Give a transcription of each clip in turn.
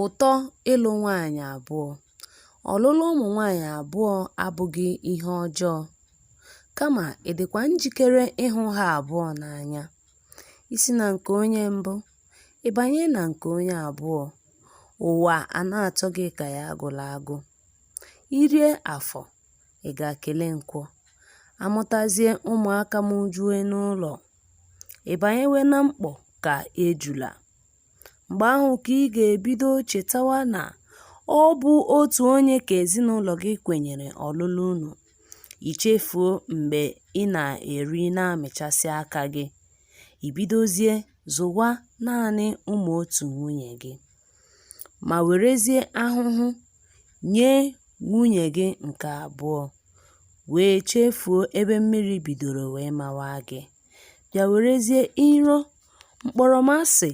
Ụtọ ịlụ nwaanyị abụọ Ọlụlụ ụmụ nwaanyị abụọ abụghị ihe ọjọọ. Kama ị dịkwa njikere ịhụ ha abụọ n'anya. I si na nke onye mbụ, ị banye na nke onye abụọ, ụwa a na-atọ gị ka ya agụla agụ. I rie Afọ, ị gaa kelee Nkwọ. A mụtazie ụmụaka mụjue n'ụlọ, ị banyewe na mkpọ ka ejula. Mgbe ahụ ka ị ga-ebido chetawa na ọ bụ otu onye ka ezinụlọ gị kwenyere ọlụlụ unu. I chefuo mgbe ị na-eri na-amịchasị aka gị, i bidozie zụwa naanị ụmụ otu nwunye gị, ma werezie ahụhụ nye nwunye gị nke abụọ, wee chefuo ebe mmiri bidoro wee mawa gị, bịa werezie iro mkpọrọmasị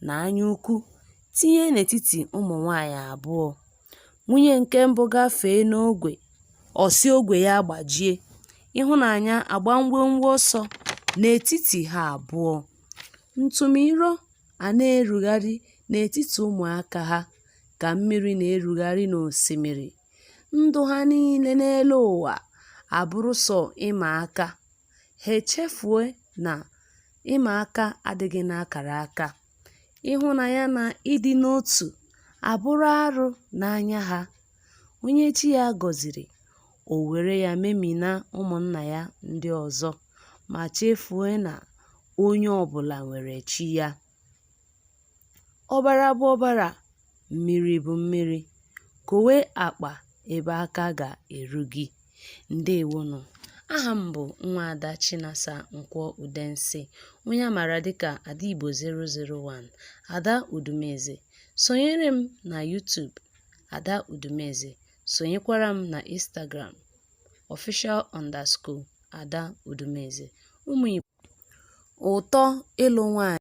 na anya ukwu tinye n'etiti ụmụ nwaanyị abụọ. Nwunye nke mbụ gafee n'ogwe, ọ sị ogwe ya gbajie, ịhụnanya agba ngwangwa ọsọ n'etiti ha abụọ. Ntụmiro a na-erugharị n'etiti ụmụaka ha ka mmiri na-erugharị n'osimiri, ndụ ha niile n'elu ụwa abụrụ sọ ịma aka. ha echefue na ịma aka adịghị n'akara aka. Ịhụnanya na ịdị n'otu abụrụ arụ n'anya ha. Onye chi ya gọziri, o were ya memina ụmụnna ya ndị ọzọ ma chefue na onye ọbụla nwere chi ya. Ọbara bụ ọbara, mmiri bụ mmiri, kowe akpa ebe aka ga-eru gị. Ndewonụ. Aha m bụ Nwaada Chinasa Nkwọ Udensi, onye a maara dịka Ada Igbo 001, Ada Udumeze. Sonyere m na YouTube, Ada Udumeze. Sonyekwara m na Instagram, official underscore Ada Udumeze. Ụmụ Igbo. Ụtọ ịlụ nwaanyị.